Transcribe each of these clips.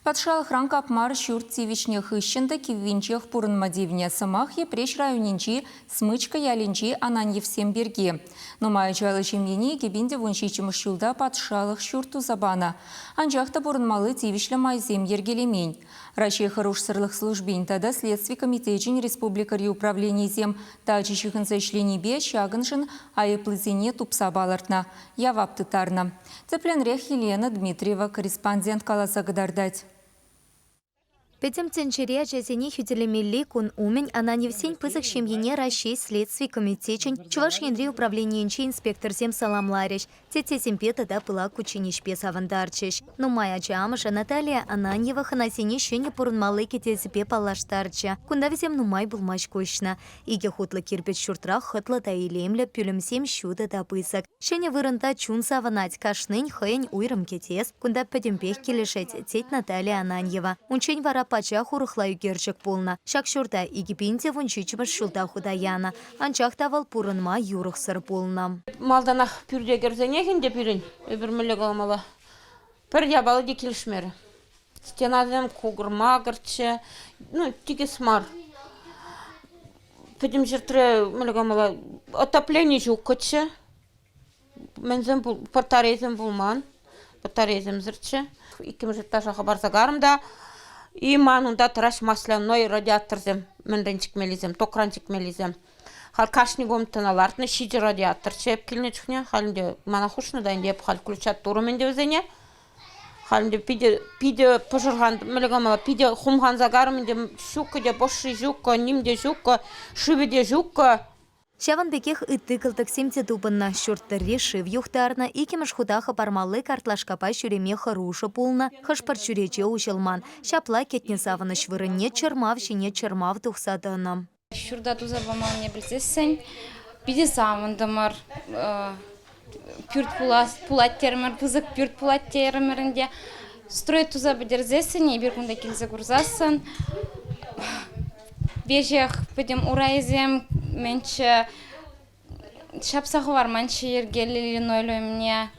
Патшалӑхран капмар ҫурт тивӗҫнӗ хыҫҫӑн та киввинчех пурӑнма тивнӗ сӑмах Йӗпреҫ районӗнчи Смычка ялӗнчи Ананьевсем пирки. Нумай ачаллӑ ҫемьене икӗпин-тӑвун ҫиччӗмӗш ҫулта патшалӑх ҫурт туса панӑ. Анчах та пурӑнмалли тивӗҫлӗ майсем йӗркелемен. Раҫҫей хӑрушсӑрлӑх службин тата Следстви комитечӗн республикӑри управленийӗсем тачӑ ҫыхӑнса ӗҫленипе ҫакӑншӑн айӑплисене тупса палӑртнӑ, явап тыттарнӑ. Тӗплӗнрех Елена Дмитриева корреспондент каласа кӑтартать. Пӗтӗм тӗнчере ачасене хӳтӗлемелли кун умӗн Ананьевсен пысӑк ҫемйине Раҫҫей Следстви комитечӗн Чӑваш Енри управленийӗнче инспекторсем саламларӗҫ, теттесемпе тата пылак кучченеҫпе савӑнтарчӗҫ. Нумай ача амӑшӗ Наталия Ананьева хӑнасене ҫӗнӗ пурӑнмалли кӗтесӗпе паллаштарчӗ. Кунта вӗсем нумай пулмасть куҫнӑ. Икӗ хутлӑ кирпӗч ҫуртра хӑтлӑ та илемлӗ, пӳлӗмсем ҫутӑ та пысӑк. Ҫӗнӗ вырӑнта чун савӑнать, кашнин хӑйӗн уйрӑм кӗтес, кунта пӗтӗмпех килӗшет, тет Наталия Ананьева. Унччен вара пачах урӑхла ӳкерчӗк пулнӑ. Ҫак ҫурта икӗ пин те вун ҫиччӗмӗш ҫулта хута янӑ, анчах та вӑл пурӑнма юрӑхсӑр пулнӑ. Малтанах пӳрте кӗрсенех ӗнтӗ пирӗн, эпир мӗнле каламалла, пӗр япала те килӗшмерӗ. стенасем кукӑр-макӑрччӗ, ну, тикӗс мар. Пӗтӗм ҫӗртре мӗнле калама отоплени ҫуккӑччӗ. Мӗнсем пул батарейсем пулман, батарейсемсӗрччӗ. Иккӗмӗш этажа хӑпарса карӑм та и ман унта тӑраҫ масляной радиаторсем мӗнрен чикмеллисем, токран чикмеллисем. Халь кашни комнатӑна лартнӑ ҫичӗ радиатор ҫеп килнӗ чухне. Халь ӗнтӗ мана хушнӑ та ӗнтӗ эп халь включаттурӑм ӗнтӗ вӗсене. Халӗ питӗ, питӗ пӑшӑрхан, мӗнле калама, питӗ хумханса карӑм ӗнтӗ. Ҫуккӑ те пӑши ҫуккӑ, ним те ҫуккӑ, шывӗ те ҫуккӑ. Ҫавӑн пекех ытти кӑлтӑксем те тупӑннӑ. Ҫурт тӑрри шыв юхтарнӑ, иккӗмӗш хута хӑпармалли картлашкапа ҫӳреме хӑрушӑ пулнӑ, хӑш-пӗр чӳрече уҫӑлман. Ҫапла кӗтнӗ савӑнӑҫ вырӑнне чӑрмав ҫине чӑрмав тухса тӑнӑ. Ҫурта туса паманне пӗлсессӗн питӗ савӑнтӑмӑр. Пӳрт пулас пулать терӗмӗр, пысӑк пӳрт пулать терӗмӗр ӗнтӗ. Строй туса пӗтерсессӗн эпир кунта килсе курсассӑн веҫех пӗтӗм урайӗсем менчче ҫапса хӑварманччӗ йӗркеллӗ линолеум умне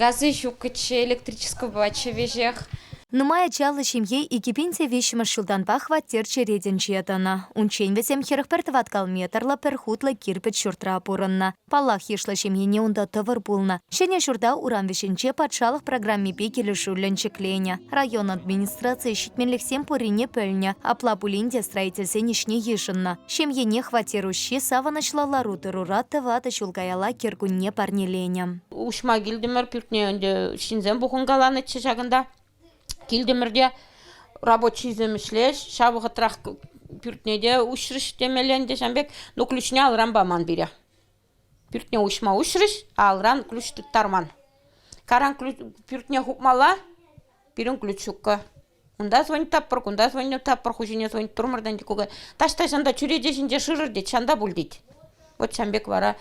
газӗ ҫукчӗ электрическобаччӗ веҫех нумай ачаллӑ ҫемье икӗ пин те виҫҫӗмӗш ҫултанпа хваттер черетӗнче тӑнӑ унччен вӗсем хӗрӗх пӗр тӑваткал метрлӑ пӗр хутлӑ кирпӗч ҫуртра пурӑннӑ паллах йышлӑ ҫемьене унта тӑвӑр пулнӑ ҫӗнӗ ҫурта урам вӗҫӗнче патшалӑх программипе килӗшӳллӗн ҫӗкленӗ район администрацийӗ ҫитменлӗхсем пуррине пӗлнӗ апла пулин те строительсен ӗҫне йышӑннӑ Ҫемьене хваттер уҫҫи савӑнӑҫлӑ лару-тӑрура тӑватӑ ҫул каялла кӗркунне парнеленӗ. Уҫма килтӗмӗр пӳртне ӗнтӗ ҫынсем пухӑнкаланӑччӗ ҫакӑнта. Килтӗмӗр те рабочийсем ӗҫлеҫ, ҫав вӑхӑтрах пӳртне те уҫрӗҫ темелле ӗнтӗ ҫам пек. Ну ключне алран паман пире. Пӳртне уҫма уҫрӗҫ, алран ключ тыттарман. Каран ключ пӳртне хупмалла, пирӗн ключ ҫуккӑ. Унта звонить таппӑр, кунта звонить таппӑр, ху ҫине звонить турмӑр тен, кукай. Таҫта ҫанта чӳрече ҫинче шырӑр тет, ҫанта пуль тет. Вот ҫан пек вара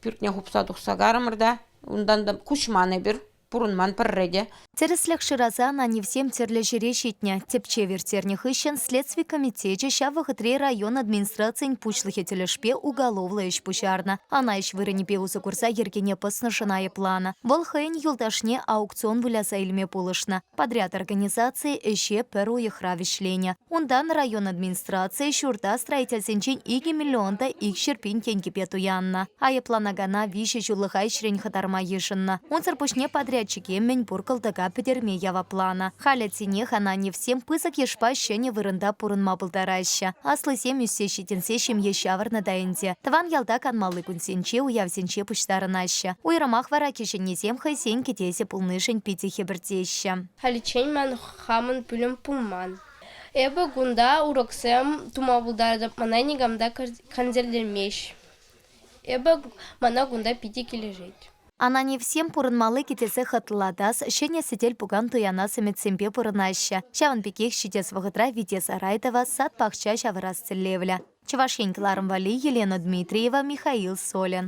пӳртне хупса тухса карӑмӑр та унтан та куҫман эпир, пурӑнман пӗрре те. Тӗрӗслӗх шырасан Анивсем тӗрлӗ ҫӗре ҫитнӗ. Тӗпчев ирттернӗ хыҫҫӑн следстви комитечӗ ҫав вӑхӑтри район администрацийӗн пуҫлӑхӗ тӗлӗшпе уголовлӑ ӗҫ пуҫарнӑ. Ӑна ӗҫ вырӑнӗпе усӑ курса йӗркене пӑснӑшӑн айӑпланӑ. Вӑл хӑйӗн юлташне аукцион выляса илме пулӑшнӑ. Подряд организаци ӗҫе пӗр уйӑхра вӗҫленӗ. Унтан район администрацийӗ ҫурта строительсенчен икӗ миллион та икҫӗр пин тенкӗпе туяннӑ. Айӑпланакана виҫӗ ҫуллӑха ӗҫрен хӑтарма йышӑннӑ. Унсӑр пуҫне подрядчике мӗнпур кӑлтӑка пӗтерме явапланӑ. Халӗ тинех Ананьевсем пысӑк йышпа ҫӗнӗ вырӑнта пурӑнма пултараҫҫӗ. Аслисем ӳссе ҫитӗнсе ҫемье ҫавӑрнӑ та ӗнтӗ. Тӑван ялта канмалли кунсенче уявсенче пуҫтарӑнаҫҫӗ. Уйрӑмах вара кӗҫӗннисем хӑйсен кӗтесӗ пулнишӗн питӗ хӗпӗртеҫҫӗ. Халиччен ман хамӑн пӳлӗм пулман. Эпӗ кунта уроксем тума пултаратӑп, мана никам та хансӗрлемест. Эпӗ мана кунта питӗ килӗшет. Ананевсем пурӑнмалли кӗтесе хӑтлатас, ҫӗнӗ сӗтел-пукан туянас ӗмӗтсемпе пурӑнаҫҫӗ. Ҫавӑн пекех ҫитес вӑхӑтра вите-сарай тӑвас, сад-пахча ҫавӑрас тӗллевлӗ. Чӑваш Ен кӑларӑм валли Елена Дмитриева, Михаил Солин.